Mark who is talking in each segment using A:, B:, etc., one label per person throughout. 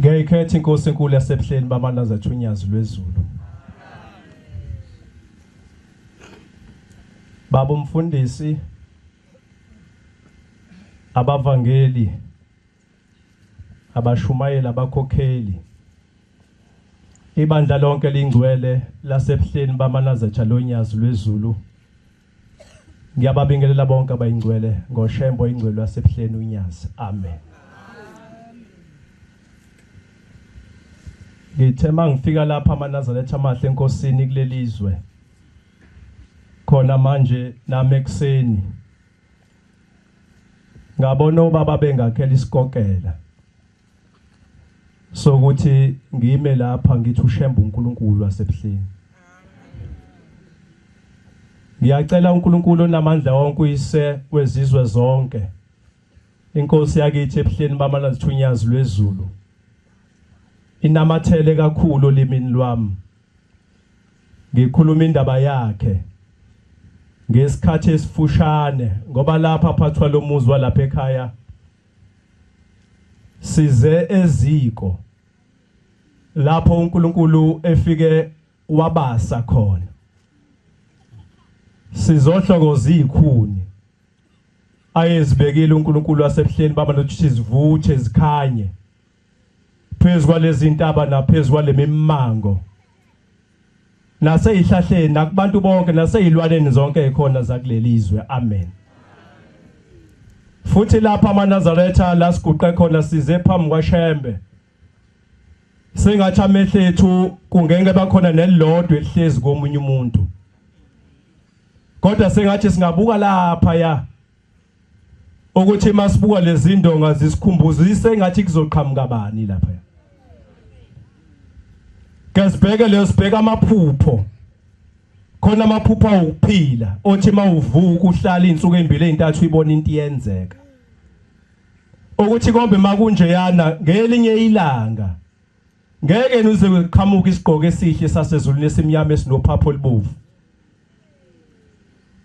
A: Ngiyayikhetha inkosi enkulu yasebuhleni bamandla zathunyazi lwezulu. Baba umfundisi abavangeli abashumayeli abakhokheli ibandla lonke lingcwele lasebuhleni bamanazetha lonyazi lwezulu Ngiyababingelela bonke abayingcwele ngoShembo ingcwele yaseBuhleni uNyazi. Amen. Ngithe mangifika lapha amaNazaretha amahle enkosini kulelizwe. Khona manje nami ekseni ngabona ubaba bengakhela isikokela sokuthi ngime lapha ngithi ushembe uNkulunkulu wasebuhleni ngiyacela uNkulunkulu onamandla wonke uyise wezizwe zonke inkosi yakithi ebuhleni bamana zithunyazi lwezulu inamathele kakhulu olimini lwami ngikhuluma indaba yakhe ngesikhathi esifushane ngoba lapha phathwa lomuzi walapha ekhaya size eziko lapho uNkulunkulu efike wabasa khona sizohlokoza izikhuni ayezibekile uNkulunkulu wasebuhleni baba nokuthi sizivuthe zikhanye phezu kwalezi ntaba naphezu kwalemimmango naseyihlahleni nakubantu bonke naseyilwaneni zonke ekhona zakulelizwe amen futhi lapha amaNazaretha la siguqe khona size phambi kwaShembe sengathi amehlo ethu kungeke bakhona nelilodwa elihlezi komunye umuntu kodwa sengathi singabuka lapha ya ukuthi masibuka lezi ndonga zisikhumbuza isengathi kuzoqhamuka bani lapha Kasibheke leyo sibheka amaphupho khona amaphupho okuphila othi mawuvuka uhlala insuku embili ezintathu ibona into iyenzeka ukuthi kombe makunjeyana ngelinye ilanga ngeke nize kuqhamuka isigqoko esihle sasezulwini esimnyama esinophapho libovu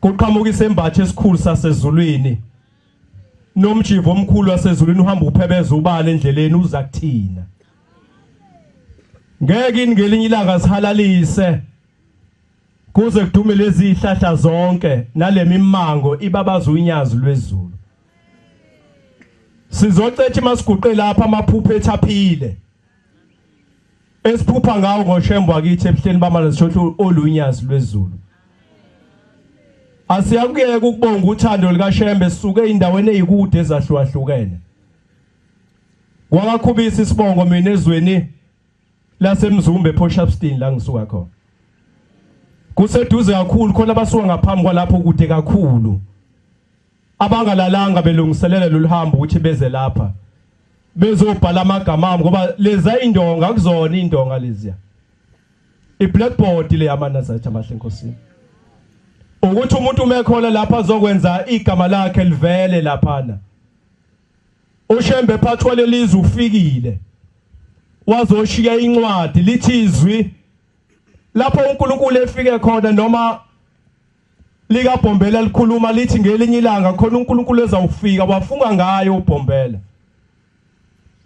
A: Kuqhamuka isembatho esikhulu sasezulwini. Nomjivo omkhulu wasezulwini uhamba uphebeza ubala endleleni uza kuthina. Ngeke ingelinye ilanga sihalalise kuze kudume lezi ihlahla zonke nalemimango ibabaza unyazi lwezulu. Sizocetha masiguqe lapha amaphupho ethaphile. esiphupha ngawo ngoshembo wakithi ebuhleni bamala sishothi olunyazi lwezulu asiyakuyeka ukubonga uthando likashembe sisuke endaweni eyikude ezahlukahlukene wakakhubisa isibongo mina ezweni lasemzumbe ePoshapstein la ngisuka khona kuseduze kakhulu khona abasuka ngaphambi kwalapho kude kakhulu abangalalanga belungiselela loluhambo ukuthi beze lapha bezobhala amagama ami ngoba leza indonga akuzona indonga leziya iblackboard le yamanazathi amahle enkosini ukuthi umuntu umekhona lapha azokwenza igama lakhe livele laphana ushembe phathwa lelizwe ufikile wazoshiya incwadi lithi izwi lapho uNkulunkulu efike khona noma likaBhombela likhuluma lithi ngelinye ilanga khona uNkulunkulu ezawufika wafunga ngayo uBhombela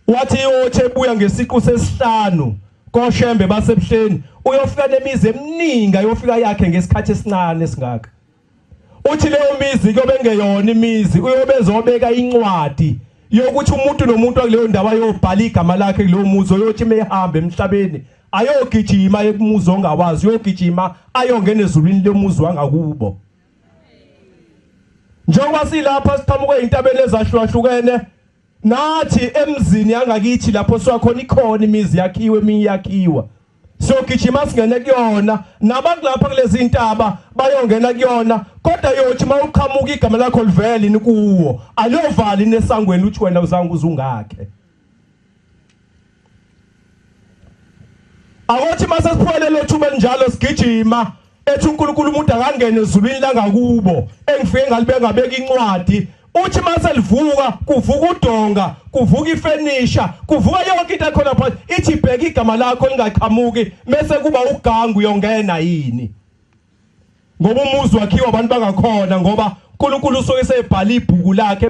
A: wathi iyothi ebuya ngesiqu sesihlanu koshembe basebuhleni uyofika nemizi eminingi ayofika yakhe ngesikhathi esincane esingaka uthi leyo mizi kuyobe ngeyona imizi uyobe ezobeka incwadi yokuthi umuntu nomuntu akuleyo ndawo ayobhala igama lakhe kulowo muzi oyothi mehambe emhlabeni ayogijima ekumuzi ongawazi uyogijima ayongena ezulwini lomuzi wangakubo njengoba silapha siqhamuke intabeni ezahlukahlukene nathi emzini yangakithi lapho siwakhona ikhona imizi yakhiwe eminye yakhiwa siyogijima singene kuyona nabantu lapha kulezi ntaba bayongena kuyona kodwa yothi uma uqhamuka igama lakho livele ni kuwo aliyovali nesangweni uthi wena uzange uzungakhe Awothi mase siphole lo thuba njalo sigijima ethi uNkulunkulu umuntu akangene ezulwini langakubo engifike ngalibeka beka incwadi uthi mase livuka kuvuka udonga kuvuka ifenisha kuvuka yonke into ekhona phansi ithi bheka igama lakho lingaqhamuki mese kuba ugangu yongena yini ngoba umuzi wakhiwa abantu bangakhona ngoba uNkulunkulu usuke sebhala ibhuku lakhe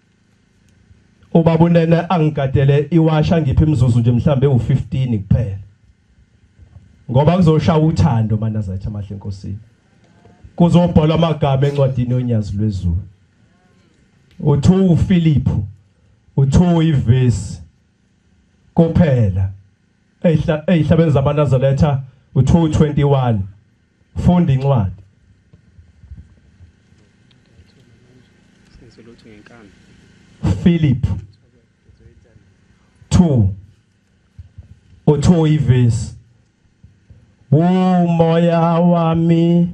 A: Ubaba unene angigadele iwasha ngiphi imizuzu nje mhlambe u15 kuphela. Ngoba kuzoshaya uthando manazathi amahle enkosini. Kuzobhalwa amagama encwadini yonyazi lwezulu. Uthu uPhilip uthu ivesi kuphela. Eyihlabeni zamanazaletha uthu 21 Funda incwadi. Senzelothu ngenkani. Philip 2 uthi ivesi umoya wami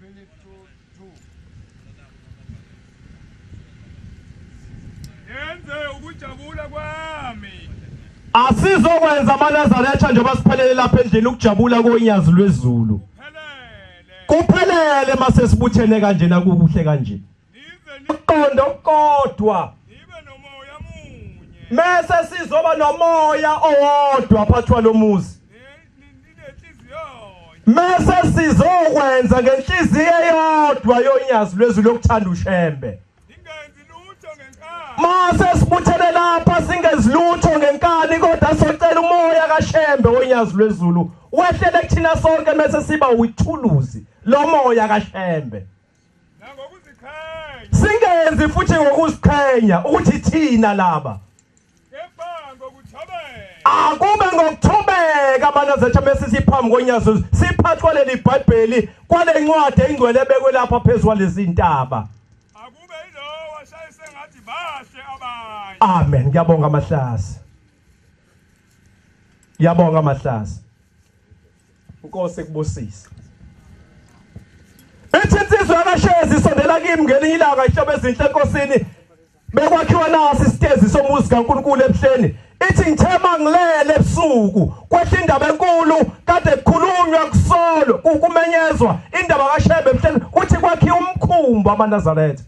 A: Philip
B: to two. Yenze ukujabula kwami.
A: Asizokwenza amaNazaretha njengoba siphelele lapha endlini ukujabula konyazi lwezulu. Kuphelele mase sibuthene kanjena kukuhle kanje. ukuqonda okukodwa
B: mese
A: sizoba nomoya owodwa phakathi kwalomuzi mese sizokwenza ngenhliziyo eyodwa yonyazi lwezwi lokuthanda ushembe
B: mase sibuthene
A: lapha singezilutho ngenkani kodwa socela umoya kashembe wonyazi lwezulu wehlele kuthina sonke mese siba withuluzi lomoya kashembe
B: singenzi
A: futhi ngokuziqhenya ukuthi thina laba
B: akube
A: ngokuthobeka banazethu bese siphambi konyazo siphathwa leli bhayibheli kwale ncwadi engcwele ebekwe lapha phezu kwalezi ntaba akube
B: yilowo washaye sengathi bahle abanye amen ngiyabonga
A: amahlasi ngiyabonga amahlasi Nkosi kubusise. Bethi insizwa yakashezi isondela kimi ngelinye ilanga ihlobo ezinhle enkosini bekwakhiwa nasi isitezi somuzi kaNkulunkulu ebuhleni ithi ngithema ngilele ebusuku kwehla indaba enkulu kade kukhulunywa kusolo kumenyezwa indaba kaShebe ebuhleni kuthi kwakhiwa umkhumbi amaNazaretha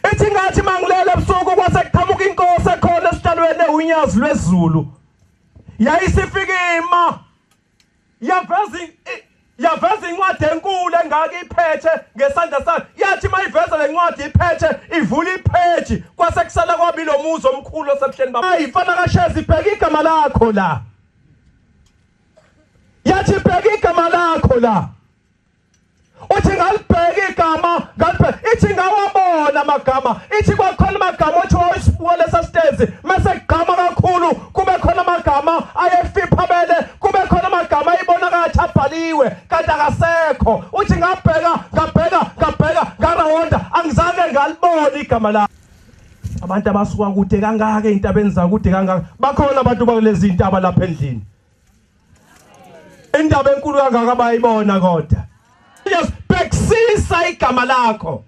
A: ethi ngathi mangilele ebusuku kwase kuqhamuka inkosi ekhona esitalweni ewunyazi lwezulu yayisifika ima yaveza yaveza incwadi enkulu engaka iphethe ngesandla sayo yathi mayiveza lencwadi iphethe ivula ipheji kwase kusala kwabili omuzi omkhulu osebuhleni baba ayi mfana kashezi bheka igama lakho la yathi bheka igama lakho la uthi ngalibheka igama ngalibheka ithi ngawabona amagama ithi kwakhona amagama othi wawisibuka lesa sitezi mase kugqama kakhulu kube khona amagama ayefiphamele kube khona amagama ayibona kathi abhaliwe kanti akasekho uthi ngabheka ngabheka ngabheka ngarawonda angizange ngalibona igama la abantu abasuka kude kangaka ezintabeni zakude kangaka bakhona abantu bakulezi ntaba lapha endlini indaba enkulu kangaka bayibona kodwa yes bhekisisa igama lakho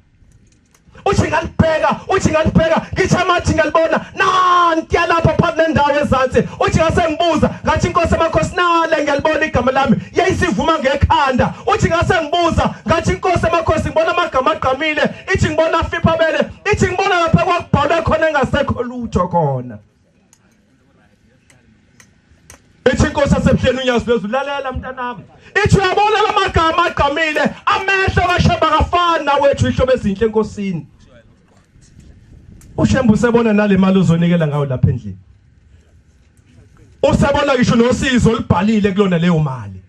A: uthi ngalibheka uthi ngalibheka ngisho amathi ngalibona nanti yalapha phambi nendawo ezansi uthi ngasengibuza ngathi inkosi amakhosi nale ngiyalibona igama lami yayisivuma ngekhanda uthi ngasengibuza ngathi inkosi amakhosi ngibona amagama agqamile ithi ngibona afipha bele ithi ngibona lapha kwakubhalwe khona engasekho lutho khona ithi inkosi yasebuhleni unyazi lwezulu lalela mntanami ithi uyabona la magama agqamile amehlo kashemba kafani nawethu ihlobo ezinhle enkosini ushemba usebona nale mali uzonikela ngayo lapha endlini usebona ngisho nosizo olubhalile kulona leyo mali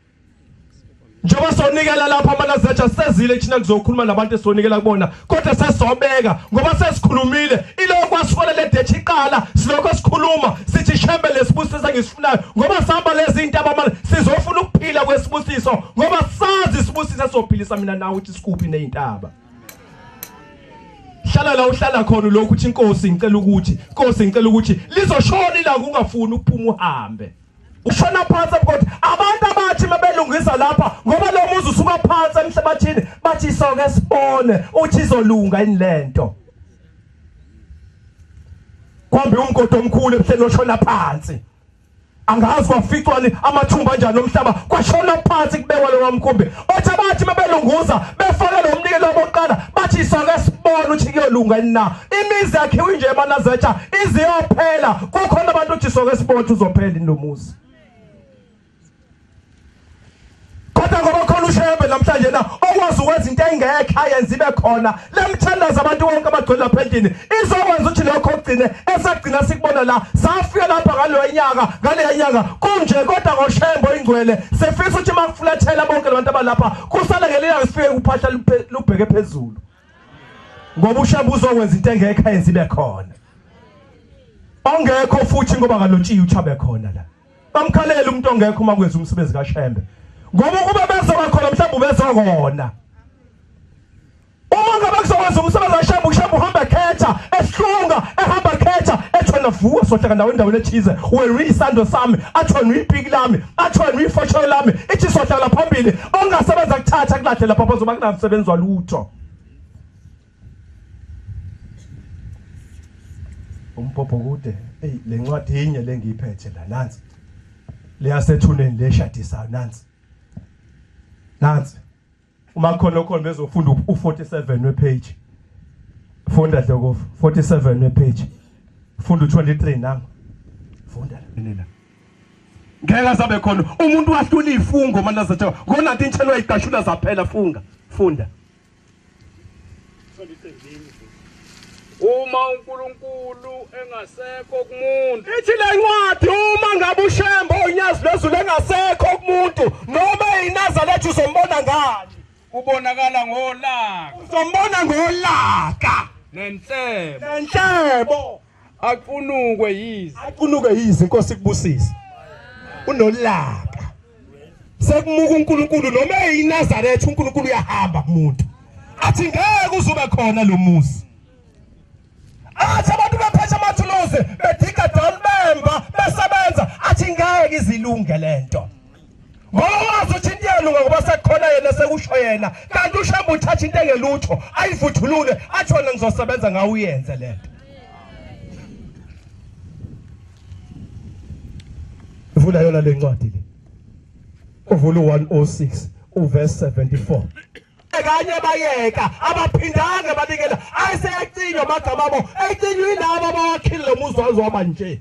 A: njengoba sonikela lapha amanazatsha sezile thina kuzokhuluma nabantu esonikela kubona kodwa sesobeka ngoba sesikhulumile iloko kwasifona le dethi iqala silokho sikhuluma sithi shembe lesibusiso engisifunayo ngoba sihamba lezi zinto abamali sizofuna ukuphila kwesibusiso ngoba sazi isibusiso esophilisa mina nawe ukuthi sikuphi nezintaba hlala la uhlala khona lokhu ukuthi inkosi ngicela ukuthi inkosi ngicela ukuthi lizoshona ila kungafuni ukuphuma uhambe ushona phansi abukoti abantu abathi mabelungisa lapha ngoba lo muzi usuka phansi emhlabathini bathi soke sibone uthi izolunga yini lento kwambe umgodi omkhulu ebuhleni oshona phansi angazi waficwa amathumba njani omhlaba kwashona phansi kubekwa lo wamkhumbi othi abathi mabelunguza befake lo mnikelo wokuqala bathi soke sibone ukuthi kuyolunga yini na imizi yakhiwe nje emanazetha iziyophela kukhona abantu othi soke sibone ukuthi uzophela yini lo muzi kodwa ngoba khona ushebe namhlanje na okwazi ukwenza into engekho ayenza ibe khona Le mithandazo abantu bonke abagcwele lapha endlini izokwenza ukuthi lokho ogcine esagcina sikubona la safika lapha ngaloya nyaka ngaleya nyaka kunje kodwa ngoshembo ingcwele sefisa ukuthi makufulathela bonke labantu abalapha kusale ngeliyanga sifike kuphahla lubheke phezulu ngoba ushembo uzokwenza into engekho yenzibe khona ongekho futhi ngoba kalotshiya uchabe khona la bamkhalele umuntu ongekho uma kwenza umsebenzi kaShembe ngoba ukuba bezoba khona mhlawumbe ubezokona uma ngabe kuzokwenza umsebenzi kaShembe uShembe uhamba khetha esihlunga ehamba khetha ethona vuka sohlaka ndawo endaweni ethize wena isando sami athona ipiki lami athona ifosholo lami ithi sohlala phambili ongasebenza kuthatha kulahle lapha bazoba kunamsebenzi walutho umphopho kude eyi le ncwadi yinye lengiyiphethe la nansi leyasethuneni leshadisayo nansi nansi uma khona okhona bezofunda u47 wepage funda dlokofu 47 wepage funda u23 nami funda la ngeke asabe khona umuntu wahlula ifungo manje azathi ngona into intshelwa igashula zaphela funga funda
B: uma uNkulunkulu engasekho kumuntu ithi le ncwadi
A: uma ngabe ushembo onyazi lwezulu engasekho kumuntu noma inazalethu uzombona ngani ubonakala
B: ngolaka uzombona
A: ngolaka nenhlebo nenhlebo
B: Aqunukwe yize. Aqunukwe yize inkosi kubusisa.
A: Unolaka. Sekumuka uNkulunkulu noma eyiNazaretha uNkulunkulu uyahamba kumuntu. Athi ngeke uzoba khona lo muzi. Athi abantu bephethe amathuluzi bediga down bemba besebenza athi ngeke izilunge lento. ngoba wazi ukuthi into iyalunga ngoba sekukhona yena sekusho yena kanti ushamba uthatha into engelutho ayivuthulule athi wena ngizosebenza ngawe uyenze le nto ivula yona le ncwadi le uvula u-106 uverse 74 kanye bayeka abaphindanga banikela ayiseyacinywa amagama abo eyicinywini abo abawakhile lo muzi wazwaba nje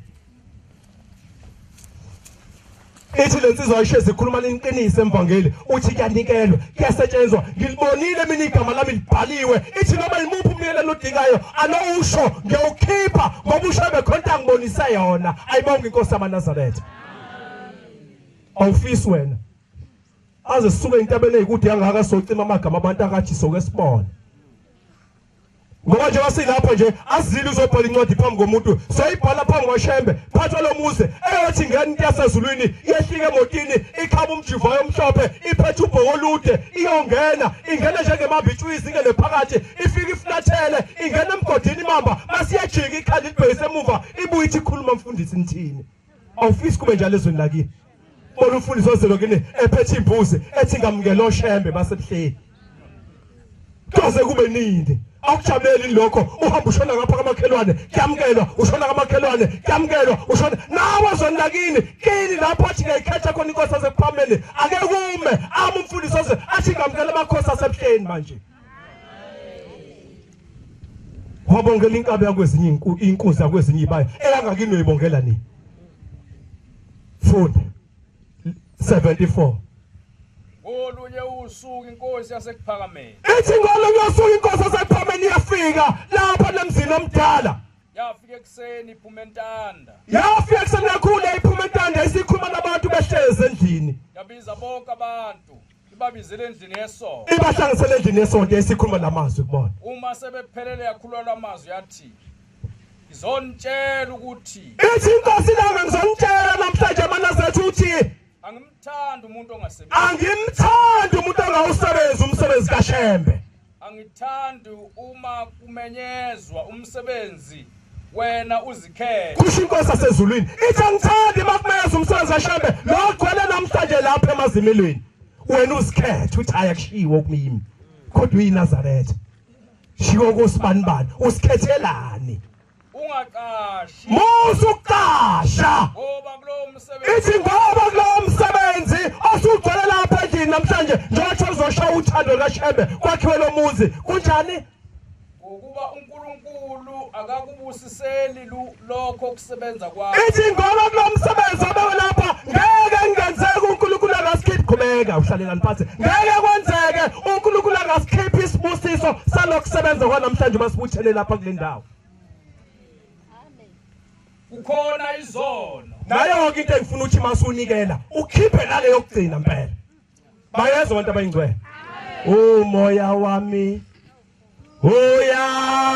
A: ithi le nsizwa ishe zikhuluma leniqiniso emvangeli uthi kuyanikelwa kuyasetshenzwa ngilibonile mina igama lami libhaliwe ithi noma yimuphi umyelelo odingayo anowusho ngiyowukhipha ngoba usho bekhonta ngibonise yona ayibonga inkosi yamanazaretha awufisi wena aze suke intabeni eyikude yangaka socima amagama abantu akathi soke sibone ngoba njengoba silapha nje azile uzobhala incwadi phambi komuntu soyibhala phambi kwashembe phathwa lo muze eyothi ngani into yasezulwini yehlike emotini ikhaba umjivayo omhlophe iphethe ubhoko olude iyongena ingena njengemambitshwizi ingene phakathi ifike iflathele ingena emgodini imamba masiyajika ikhanda libhekise emuva ibuye ithi khuluma mfundisi nithini awufisi kube njalo ezweni lakini bona umfundisi ozelwe kini ephethe imbuzi ethi ngamukela oshembe basebuhleni kaze kube nini awujabuleli lokho uhamba ushona ngapha kamakhelwane kuyamukelwa ushona kamakhelwane kuyamukelwa ushona nawe zoni lakini kini lapho athi ngiyayikhetha khona inkosi asekuphameni ake kume ama umfundisi oze athi ngamukela amakhosi asebuhleni manje wabongela inkabi yakwezinye inkunzi yakwezinye ibaya eyangakini uyoyibongela nini funda 74
B: olunye usuku inkosi yasekuphakameni ithi ngolunye
A: usuku inkosi yasekuphakameni iyafika lapha nemzini omdala yafika ekuseni
B: iphuma entanda yafika ekuseni
A: kakhulu iphuma entanda isikhuluma nabantu behlezi endlini yabiza bonke
B: abantu ibabizele endlini yesonto ibahlangisele endlini yesonto
A: esikhuluma lamazwi kubona uma sebephelele
B: yakhulwa lamazwi yathi ngizonitshela ukuthi ithi inkosi
A: lami ngizonitshela namhlanje manazethu uthi angimthandi
B: umuntu ongasebenzi angimthandi
A: umuntu ongawusebenzi umsebenzi kaShembe Angithandi
B: uma kumenyezwa umsebenzi wena uzikhele. Kusho inkosi yasezulwini
A: ithi angithandi uma kumenyezwa umsebenzi washembe lo ogcwele namhlanje lapha emazimelweni. Wena uzikhethe uthi hhayi akushiwo okumimi kodwa uyiNazaretha. Shiwo kosibani bani usikhethelani?
B: ungaqashi musa
A: ukuqasha ngoba kulowo
B: msebenzi ithi ngoba kulowo
A: msebenzi osugcwele lapha endlini namhlanje njengothi uzosha uthando lukashembe kwakhiwe lo muzi kunjani ngokuba
B: uNkulunkulu akakubusiseli lokho kusebenza kwakho ithi ngoba kulo
A: msebenzi obewe lapha ngeke ngenzeke uNkulunkulu akasikhiphi qhubeka uhlalelani phansi ngeke kwenzeke uNkulunkulu akasikhiphi isibusiso salokusebenza kwanamhlanje masibuthele lapha kule ndawo
B: kukhona izono nayo yonke into engifuna
A: ukuthi masunikela ukhiphe nale yokugcina mpela bayezwa abantu abayingcwele umoya wami uyavuma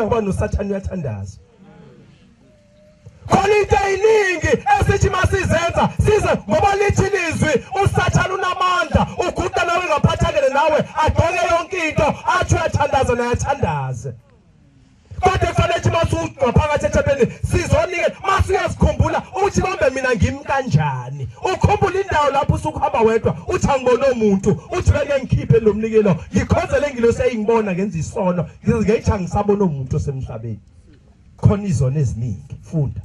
A: kulula ngoba nosathane uyathandaza khona into eyiningi esithi masizenza size ngoba lithi lizwi usathane unamandla uguda nawe ngaphathakele nawe adoke yonke into athi uyathandaza naye athandaze Kade kufanele ukuthi masuqa phakathi ethempelini sizonike masiyazikhumbula uthi kambe mina ngimi kanjani. Ukhumbula indawo lapho usukuhamba wedwa uthi angibone umuntu uthi beke ngikhiphe lo mnikelo ngikhonzele ngilo seyingibona ngenza isono ngithi angisabona umuntu osemhlabeni. Khona izona eziningi funda.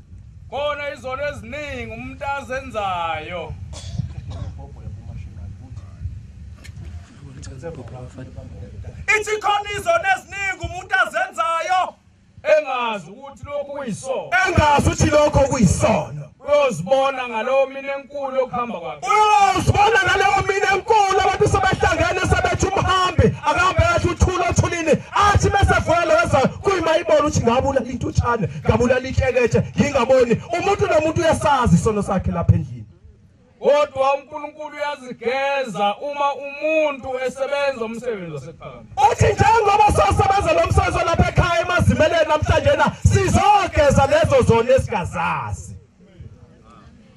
A: Khona izona
B: eziningi umuntu azenzayo. ithi khona izona eziningi umuntu azenzayo engazi ukuthi lokhu kuyisono engazi ukuthi lokho
A: kuyisono uyozibona
B: ngalowo mina enkulu
A: okuhamba kwakhe uyozibona ngalowo mina enkulu abantu sebehlangene sebethi umhambi akahambe kahle uthula othulile athi bese vuya leza kuyimayibona ukuthi ngabulala intutshane ngabulala inhlekethe ngingaboni umuntu nomuntu uyasazi isono sakhe lapha endlini Kodwa
B: uNkulunkulu uyazigeza uma umuntu esebenza umsebenzi wasekhaya. Uthi njengoba
A: sosebenza lo msebenzi lapha ekhaya emazimeleni namhlanje na sizogeza lezo zona esingazazi.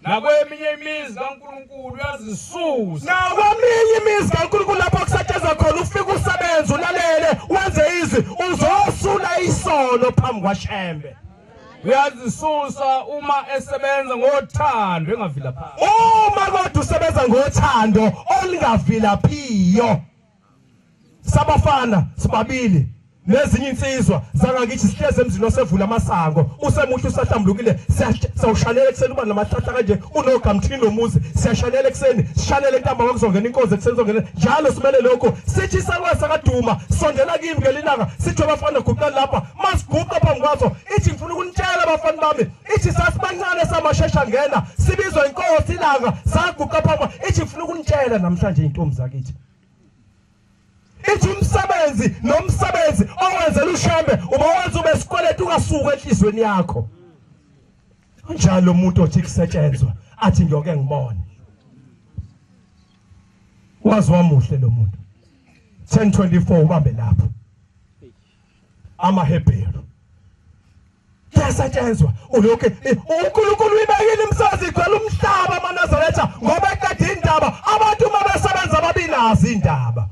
A: Nakweminye
B: imizi kaNkulunkulu uyazisusa. Nakweminye
A: imizi kaNkulunkulu lapho kusetshenzwa khona ufika usebenza ulalele wenze izwi uzosula isono phambi kwaShembe. uyazisusa
B: uma esebenza ngothando engavilaphiyo uma kodwa
A: usebenza ngothando olingavilaphiyo sabafana sibabili nezinye insizwa zangakithi sihleze emzini osevula amasango usemuhle usahlambulukile siyawushanela ekuseni uba namahlahla kanje unogamthini lomuzi siyashanela ekuseni sishanele intamba kwakuzongena inkozi ekuseni zongena njalo simele lokhu sithi isakwesa kaduma sondela kimi ngelinanga sithi abafana guqani lapha masiguqa phambi kwaso ithi ngifuna ukunitshela abafana bami ithi sasibancane samashesha ngena sibizwa inkosi ilanga saguqa phambi ithi ngifuna ukunitshela namhlanje intombi zakithi ithi umsebenzi nomsebenzi owenzela ushembe uba wenza ube sikweleta ungasuki enhlizweni yakho unjalo umuntu othi kusetshenzwa athi ngiyoke ngibone wazi wamuhle lo muntu 1024 ubambe lapho amaHebheru yasetshenzwa uyoke eh, uNkulunkulu uyibekile imsazi igcwele umhlaba amaNazaretha ngoba eqeda indaba abantu uma besebenza babinazi indaba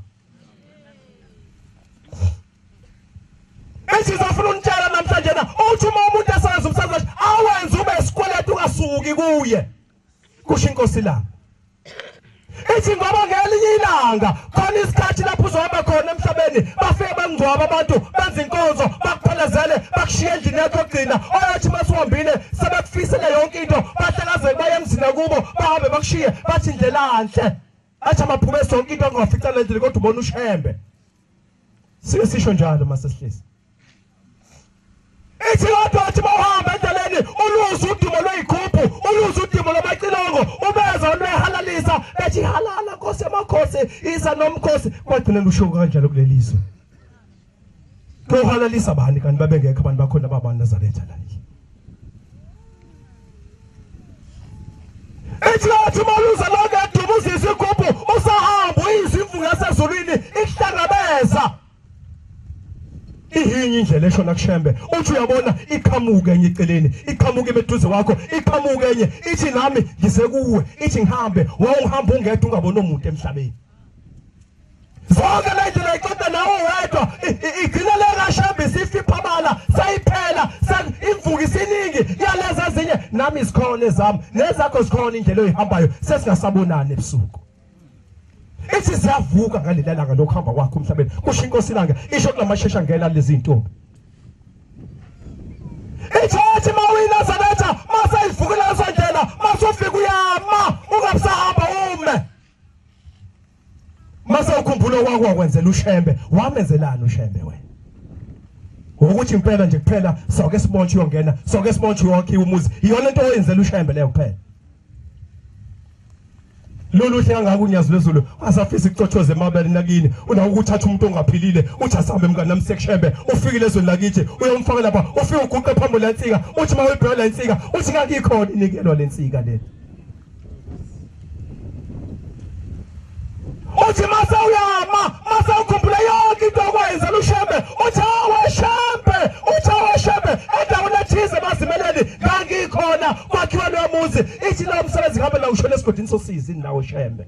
A: Esizofuna unitshela namhlanje na uthi uma umuntu esebenza umsebenzi awenze ube sikweletu kasuki kuye kusho inkosi lami ithi ngoba ngelinye ilanga khona isikhathi lapho uzohamba khona emhlabeni bafike bangcwaba abantu benza inkonzo bakuphelezele bakushiye endlini yakho yokugcina oyathi uma siwambile sebekufisele yonke into bahlakazeke baye emzini akubo bahambe bakushiye bathi indlela nhle athi amaphume sonke into angawafica le ndlela kodwa ubona ushembe Sike sisho njalo masesihlisi. Ithi kodwa athi bawuhamba endleleni uluza udimo lweyikhuphu, uluza udimo lwamacilongo, ubeza lwehalalisa, ethi halala Nkosi yamakhosi, iza nomkhosi. Kwagcina lusho kanjalo kulelizwe. Lohalalisa bani kanti babengekho abantu bakhona baba Nazaretha la. Ihlathi maluza lonke edubuza isigubhu usahamba uyizimvu yasezulwini ihlangabeza ihinye indlela eshona kushembe uthi uyabona iqhamuke enye eceleni iqhamuke imeduze wakho iqhamuke enye ithi nami ngisekuwe ithi ngihambe wawuhamba ungedwa ungabona umuntu emhlabeni zonke lento nayiqeda nawo wedwa igcina le kashembe isifiphabala sayiphela imvuka isiningi yaleza ezinye nami izikhona ezami nezakho zikhona indlela oyihambayo sesingasabonani ebusuku ithi siyavuka ngaleli langa lokuhamba kwakho emhlabeni kusho inkosi ilanga isho kulamashesha ngena lezi ntombi ichurch mawina sebenza masayivukela esendlela masufika uyama ungabusahamba ume Mase ukhumbula okwakho wakwenzela uShembe, wamenzelani uShembe wena? Ukuthi impela nje kuphela soke sibotshwe uyongena, soke sibotshwe wakhiwa umuzi. Iyona into oyenzela uShembe leyo kuphela. lolu hle kangaka unyazi lwezulu asafisa icothoze emabele nakini unawo ukuthatha umuntu ongaphilile uthi asambe mngane nami sekushembe ufikile ezweni lakithi uyomfaka lapha ufike uguqe phambi lensika uthi uma uyibheka lensika uthi ngakikho inikelo lensika le uthi mase uyama mase ukhumbula yonke into okwenza lushembe uthi aweshembe uthi aweshembe endaweni ethize bazimeleni ngangikhona kwakhiwa loyo muzi ithi lowo msebenzi ngabe la ushona esigodini sosizi indawo shembe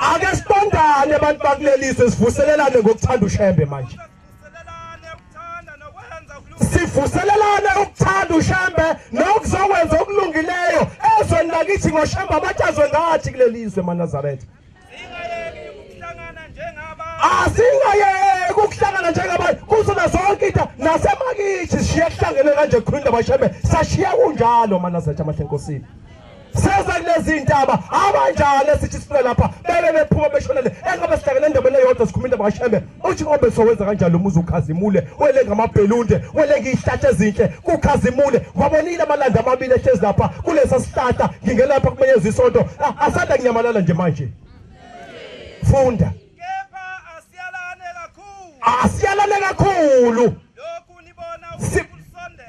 A: ake sibandane abantu bakulelise sivuselelane ngokuthanda ushembe manje sivuselelane ukuthanda ushembe nokuzokwenza okulungileyo ezweni lakithi ngoshembe abatshazwe ngathi kulelizwe manazaretha asingayeki ukuhlangana njengabantu kuzona zonke into nasemakithi siye kuhlangene kanje kukhulunda bashembe sashiya kunjalo manazaretha amahle enkosini seza kulezi ndaba abanjani esithi siphila lapha bebe bephuma beshonele engabe sihlangene endaweni eyodwa sikhuluma indaba kashembe uthi ngobe sowenza kanjani lo muzi ukhazimule wele ngamabhelunde wele ngiyihlatsha ezinhle kukhazimule wabonile amalanda amabili ehlezi lapha kulesa sihlahla ngingelapha kumenyeza isonto ah, asanda kunyamalala nje manje funda asiyalane kakhulu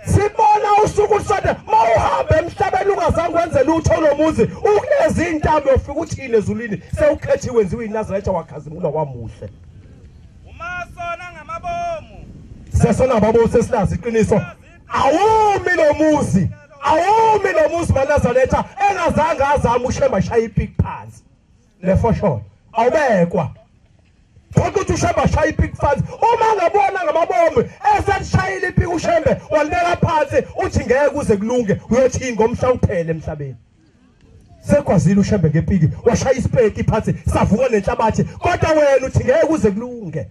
A: sibona usuku lusondela mawuhambe emhlabeni ungazange wenze lutho lomuzi ukulezi intambo yofika uthini ezulwini sewukhethiwe wenziwe inazaretha wakhazimula wamuhle uma sona ngamabomu sesona babo sesilazi iqiniso awumi lomuzi awumi lomuzi manazaretha engazange azama ushemba shaya ipik phansi lefosholo awubekwa ukuthi ushembe ashaya ipiki phansi uma ngabona ngamabombe eselishayile ipiki ushembe walibeka phansi uthi ngeke kuze kulunge uyothi ngomhla uphele emhlabeni sekwazile ushembe ngepiki washaya isipeki phansi savuka nenhlabathi kodwa wena uthi ngeke kuze kulunge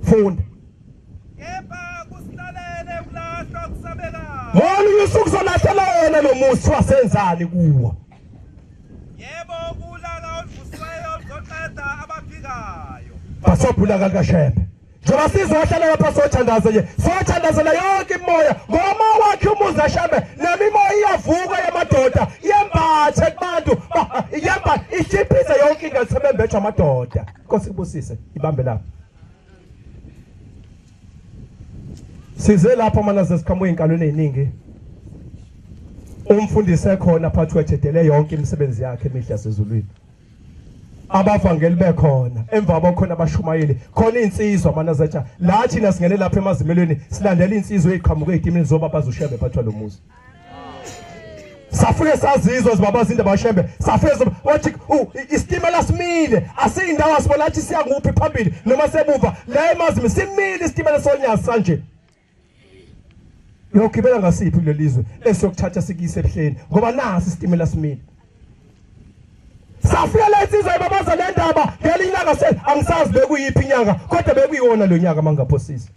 A: funda kepha kusihlalele ukulahlwa kusabeka ngolunye usuku kuzolahlelwa wona lo musi wasenzani kuwo yebo kulala oluvusiweyo oluzoqeda abaphikayo basobhula kakashebe njengoba sizohlala lapha sothandaza nje sothandazela yonke imoya ngoma wakhe umuzi ashebe nemimoya iyavuka yamadoda yembathe kubantu yemba ishiphise yonke into sebembethwa amadoda Nkosi kubusise ibambe lapho Size lapho mana zesikhamu enkalweni eziningi umfundisi ekhona phathi wethedele yonke imisebenzi yakhe emihle sezulwini abavangeli bekhona emva kwakhona abashumayeli khona insizwa manazatsha la thina singene lapha emazimelweni silandela insizwa eziqhamuke ezitimini zoba bazoshebe phathwa lo muzi safike sazizwa zibaba zinde bashembe safike wathi isitimela simile asiyindawo asibona athi siya kuphi phambili noma sebuva la emazimi simile isitimela sonyazi sanje yogibela ngasiphi kulelizwe esiyokuthatha sikise ebuhleni ngoba nasi isitimela simile safika la insizwa ibabaza le ndaba ngelinye ilanga se angisazi bekuyiphi inyanga kodwa bekuyiwona lo nyaka mangaphosisa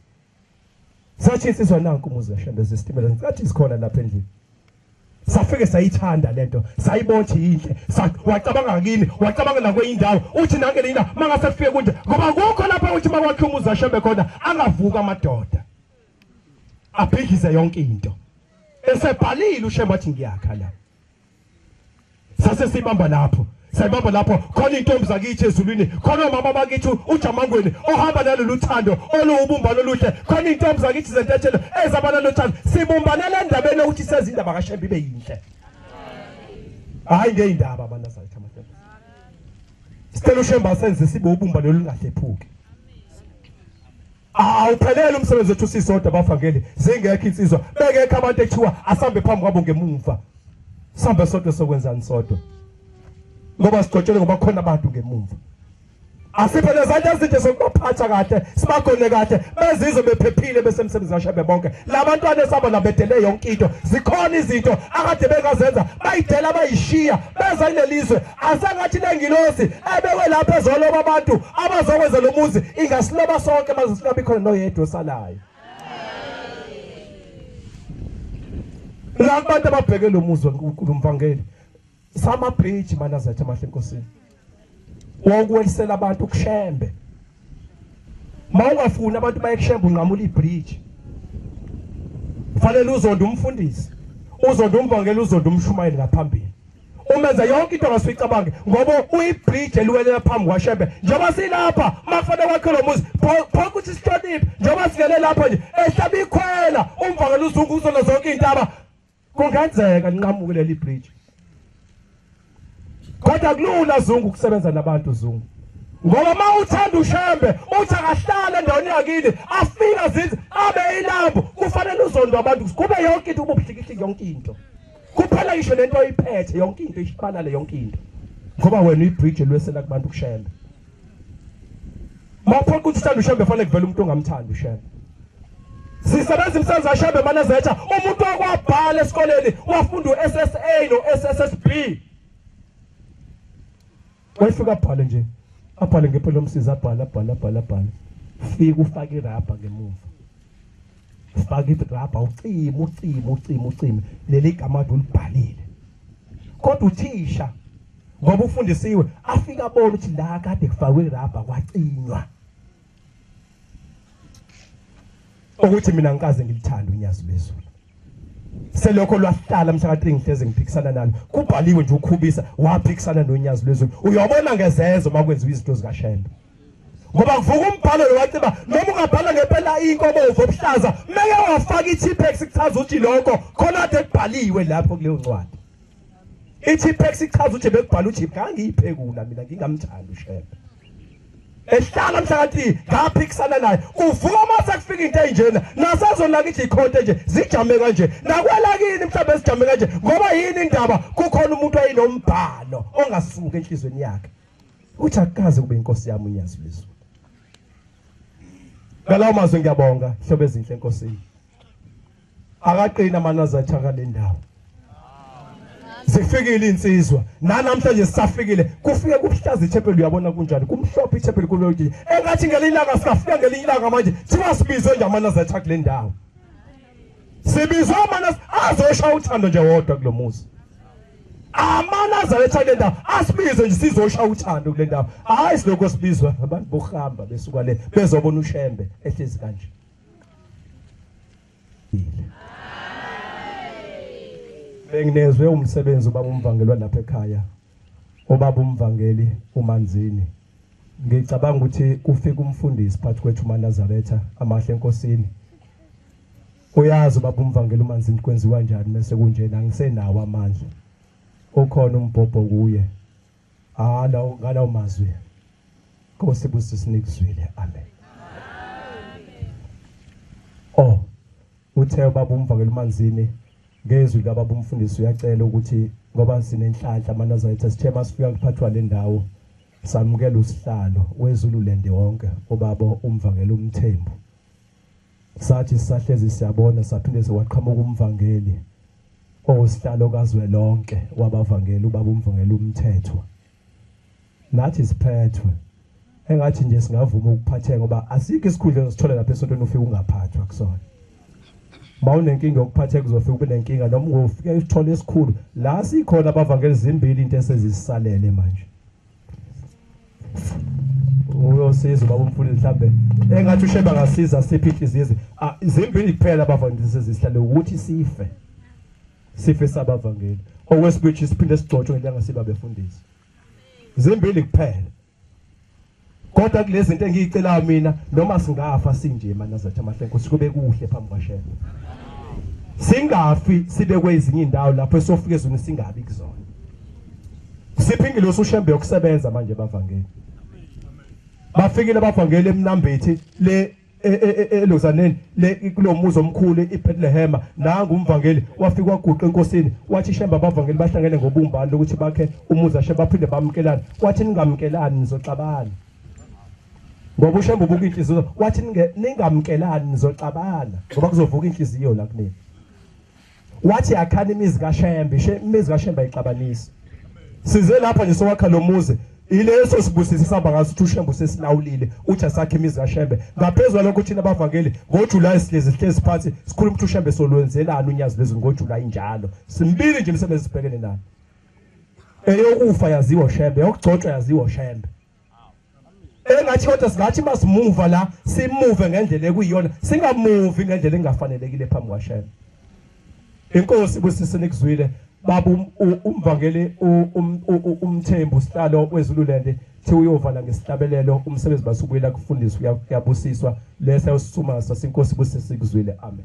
A: Sashisiswa nanku umuzi kaShembe zesitimela ngicathi sikhona lapha endlini. Safike sayithanda lento, sayibona ukuthi yinhle. Wacabanga kini, wacabanga la kweyindawo. Uthi nange lina mangase fike kunje ngoba kukho lapha uthi makwakhe umuzi kaShembe khona angavuka amadoda. Abhidlize yonke into. Esebhalile uShembe wathi ngiyakha la. sase sibamba lapho sayibamba lapho khona intombi zakithi ezulwini khona umama bakithi ujamangweni ohamba nalolu thando oluwubumbano oluhle khona intombi zakithi zentetshelo ezaba nalo thando sibumbanele endabeni yokuthi sezindaba kashembe ibe yinhle hayi ngeyindaba abantu azayithi amahlelo sicela ushembe asenze sibe ubumbano olungahlephuki awuphelele umsebenzi wethu sisodwa bafakeli zingekho insizwa bekekho abantu ekuthiwa asambe phambi kwabo ngemumva sambe sodwa sokwenzani sodwa ngoba sigcotshele ngoba khona abantu ngemumva asiphe lezanto ezinto zokubaphatha kahle sibagone kahle bezizwe bephephile besemsebenzi washabe bonke labantwana esaba nabedele yonke into zikhona izinto akade bengazenza bayidela bayishiya beza kulelizwe asengathi lengilosi ebekwe lapha ezoloba abantu abazokwenza lo muzi ingasiloba sonke maze singabi khona noyedwa osalayo la kubantu ababheke lo muzi lomvangeli sama bridge manazethe amahle enkosini wokuwelisela abantu kushembe mawungafuni abantu bayekushemba unqamula ibridge fanele uzonda umfundisi uzonda umvangeli uzonda umshumayeli ngaphambili umenza yonke into ngasuke icabange ngoba uyibridge eliwelela phambi kwashembe njengoba silapha makufanele kwakhe lo muzi phonke ukuthi sihloniphe njengoba singene lapha nje ehlaba ikhwela umvangela uzungu uzona zonke iy'ntaba Kungenzeka linqamuke leli bridge. Kodwa kulula Zungu ukusebenza nabantu Zungu. Ngoba uma uthanda ushembe uthi akahlale endaweni yakini afika zithi abe ilambu kufanele uzondo abantu kube yonke into ububuhlikihliki yonke into. Kuphela ngisho lento oyiphethe yonke into ishibalale yonke into. Ngoba wena uyibridge lwesela kubantu kushembe. mawuphoqa ukuthi uthanda ushembe fanele kuvele umuntu ongamthandi ushembe sisebenza imisebenzi ashembe manezetha umuntu okwabhala esikoleni wafunda uSSA noSSB wayefika abhale nje abhale ngempela umsizi abhale abhale abhale abhale fika ufake irabha ngemuva Spakithi grabha ucima ucima ucima ucima leli gama ade ulibhalile kodwa uthisha ngoba ufundisiwe afika abona ukuthi la kade kufakwe irabha kwacinywa ukuthi mina ngikaze ngilithanda unyazi lwezulu selokho lwahlala mhlaka 3 ngihleze ngiphikisana nalo kubhaliwe nje ukhubisa waphikisana nonyazi lwezulu uyobona ngezezo makwenziwa izinto zikashembe ngoba kuvuka umbhalo lo waciba noma ungabhala ngempela inkomo zobuhlaza meke wafaka i-T-Pex kuchaza ukuthi lokho khona kade kubhaliwe lapho kuleyo ncwadi i-T-Pex ichaza ukuthi bekubhala uJip ngangiyiphekula mina ngingamthandi uShembe ehlala mhlakathi ngaphikisana naye kuvuka uma sekufika into enjena nasezonaka ithi ikhonto nje zijame kanje nakwelakini mhlawumbe sijame kanje ngoba yini indaba kukhona umuntu ayinombhalo ongasuki enhlizweni yakhe uthi akukaze kube inkosi yami unyazi lwezulu ngalawo mazwi ngiyabonga hlobo ezinhle enkosini akaqina amanazathi akale ndawo zifikile insizwa nanamhlanje sisafikile kufike kuhlaza ichapel uyabona kunjani kumhlophe ichapel kulodi engathi ngelilanga sikafika ngelinye ilanga manje siwasibizo nje amanazathi akule ndawo sibiza amana azosha uthando nje wodwa kulomuzi amana azaletha le ndawo asibize nje sizosha uthando kule ndawo hayi silokho sibizwa abantu bokuhamba besuka le bezobona ushembe ehlezi kanje benginezwe umsebenzi ubaba umvangelwa lapha ekhaya Ubaba uMvangeli uManzini ngicabanga ukuthi kufika umfundisi phakathi kwethu uManazaretha amahle enkosini uyazi ubaba uMvangeli uManzini kwenziwa njani mase kunjena ngisenawo amandla ukhona umbhobho kuye hala ah, ngalawo mazwi Nkosi busisinikuzwile amen Uthe ubaba umvakela uManzini ngezwi likababa umfundisi uyacela ukuthi ngoba sinenhlanhla amanazayitha sithe masifika kuphathwa le ndawo samukela usihlalo wezululand wonke ubaba umvangeli umthembu sathi sisahlezi siyabona saphinde sewaqhamuka umvangeli owusihlalo kazwelonke wabavangeli ubaba umvangeli umthethwa nathi siphethwe engathi nje singavuma ukuphatheka ngoba asikho isikhundla osithola lapha esontweni ufike ungaphathwa kusona mawunenkinga yokuphatheka uzofika ube nenkinga noma ungofike usithole esikhulu la sikhona abavangeli zimbili into esezisalele manje uyosiza ubaba umfundisi mhlambe engathi usheba ngasiza siphi inhliziyo izimbili kuphela abavangeli sezihlale ukuthi sife sife sabavangeli okwesibili siphinde sigcotshwe ngelanga siba befundisi zimbili kuphela kodwa kulezi zinto engiyicelayo mina noma singafa sinje manazathi amahle nkosi kube kuhle phambi kwashela singafi sibe kwezinye indawo lapho esofika ezweni singabi kuzona siphi ingilosi ushembe yokusebenza manje bavangeli bafikile abavangeli emnambethi le E, e, e, elozaneni le kulomuzi omkhulu iBethlehem nangu umvangeli wafika waguqa enkosini wathi shemba abavangeli bahlangene ngobumbani lokuthi bakhe umuzi ashe baphinde bamkelana wathi ningamkelani nizoxabana ngoba ushemba ubuka inhliziyo wathi ningamkelani nizoxabana ngoba kuzovuka inhliziyo la kunini wathi yakhani imizi kaShembe imizi kaShembe ayixabanisi size lapha nje sowakha lo muzi ileso sibusiso sihamba ngaso ukuthi uShembe usesilawulile uthi asakhe imizi kaShembe ngaphezulu lokho thina abavangeli ngoJuly sihlezi sihlezi phansi sikhuluma ukuthi uShembe solwenzelani unyazi lwezulu ngoJuly njalo simbili nje imisebenzi sibhekene nayo eyokufa yaziwa uShembe yokugcotshwa yaziwa uShembe engathi kodwa singathi masimuva la simuve ngendlela ekuyiyona singamuvi ngendlela engafanelekile phambi kwashela inkosi busise nikuzwile baba um, umvangeli um, umthembu sihlalo wezululende thi uyovala ngesihlabelelo umsebenzi basubuyela kufundiswa uyabusiswa lesa usisuma sasinkosi busise sikuzwile amen